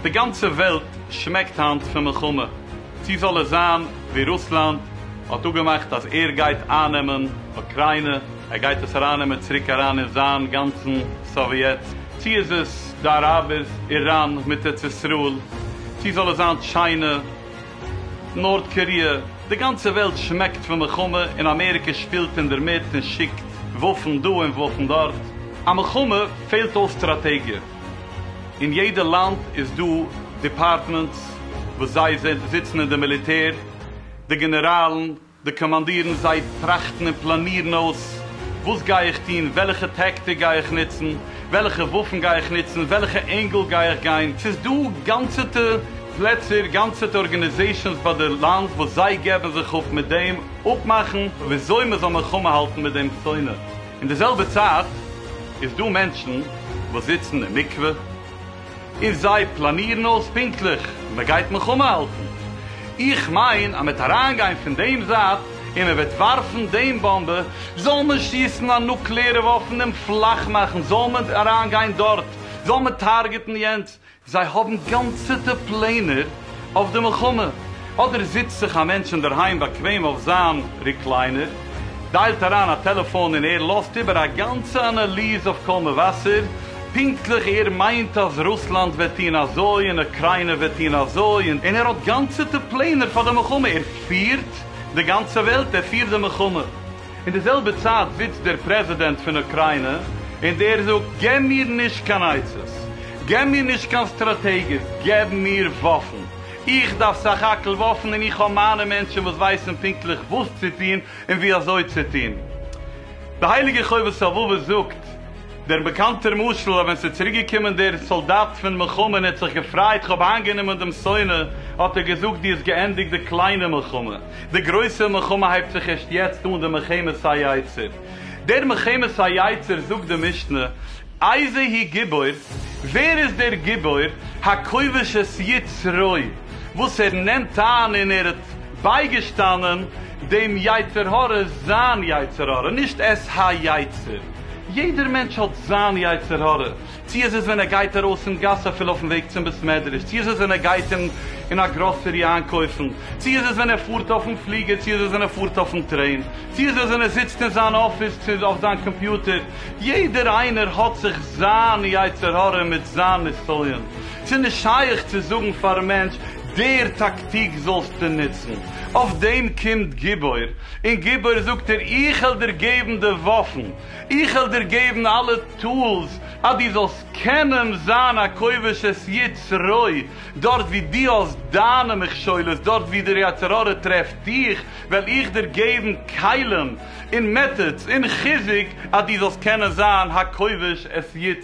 די גאנצע וועלט שמעקט היינט פון מלחמה, צו זאל עס זיין ווי רוסלאנד האט אפגעמאכט אז ער גייט איינעמען אוקריינע, ער גייט עס אריינעמען צוריק אריין אין זיין גאנצן סאוויעט, צו איז עס די אראבערס, איראן מיט ארץ ישראל, צו זאל עס זיין טשיינע, נארט קאריע, די גאנצע וועלט שמעקט פון מלחמה און אמעריקע שפילט אינדערמיט און שיקט וואפן דא און וואפן דארט. א מלחמה פעלט אויס סטראטעגיע. אין יעדע לאנד איז דא דיפארטמענטס וואס זיי זיצן אין די מיליטער, די גענעראלן, די קאמאנדירן זיי טראכטן און פלאנירן אויס, וואס גיי איך טון, וועלכע טעקטיק גיי איך נוצן, וועלכע וואפן גיי איך נוצן, וועלכע ענגל גיי איך גיין, ס'איז דא גאנצעטע פלעצער, גאנצעטע ארגענעזעישאנס ביי די לאנד וואס זיי געבן זיך אפ מיט דעם אפמאכן וויאזוי מ'זאל מלחמה האלטן מיט דעם שונא, אין די זעלבע צייט איז דא מענטשן וואס זיצן אין מקווה, איז זיי פלאנירן אויס פונקטליך ווי מען גייט מלחמה האלטן. איך מיין אז מען וועט אריינגיין פון דעם זייט און מען וועט ווארפן דעם באמבע, זאל מען שיסן א נוקלעארע וואפן און פלאך מאכן, זאל מען אריינגיין דארט, זאל מען טארגעטן יענץ, זיי האבן גאנצעטע פלענער. אויף די מלחמה, אדער זיצט זיך א מענטש אינדערהיים באקוועם אויף זיין ריקליינער, דיילט אריין א טעלעפאן און ער לאזט איבער א גאנצע אנאליז אויף קול מבשר, פונקטליך ער מיינט אז רוסלאנד וועט טוהן אזוי און אוקריינע וועט טוהן אזוי, און ער האט גאנצעטע פלענער פאר די מלחמה, ער פירט די גאנצע וועלט, ער פירט די מלחמה. אין די זעלבע צייט זיצט דער פרעזידענט פון אוקריינע און דער זאגט געב מיר נישט קיין עצות, געב מיר נישט קיין סטראטעגיעס, געב מיר וואפן, איך דארף סך הכל וואפן און איך האב מיינע מענטשן וואס ווייסן פונקטליך וואס צו טון און ווי אזוי צו טון. די הייליגע חובת הלבבות זאגט דער באקאנטער משל אז ווען ס'איז צוריק געקומען דער סאלדאט פון מלחמה און ער האט זיך געפרייט כ'האב איינגענומען דעם שונא האט ער געזאגט דו האסט געענדיגט די קליינע מלחמה. די גרויסע מלחמה הייבט זיך ערשט יעצט אן, די מלחמת היצר. דער מלחמת היצר זאגט די משנה, איזה היא גיבור, ווער איז דער גיבור הכובש את יצרו, וואס ער נעמט איין און ער האט בייגעשטאנען דעם יצר הרע, זיין יצר הרע, נישט את היצר, יעדער מענטש האט זיין יצר הרע, צי איז עס ווען ער גייט ארויס אין גאס אפילו אויפן וועג צום בית מדרש, צי איז עס ווען ער גייט אין א גראסערי איינקויפן, צי איז עס ווען ער פארט אויפן פליגער, צי איז עס ווען ער פארט אויפן טרעין, צי איז עס ווען ער זיצט אין זיין אפיס אויף זיין קאמפיוטער, יעדער איינער האט זיך זיין יצר הרע מיט זיין נסיון, ס'איז נישט שייך צו זאגן פארן מענטש דער טאקטיק זאלסטו נוצן, אויף דעם קומט גיבור, און גיבור זאגט ער איך העל דיר געבן די וואפן, איך וועל דיר געבן אלע טולס אז דו זאלסט קענען זיין א כובש את יצרי, דארט ווי דו האסט דיינע מכשולות, דארט ווי דער יצר הרע טרעפט דיך, וועל איך דיר געבן כלים און מעטאדס און חיזוק אז דו זאלסט קענען זיין הכובש את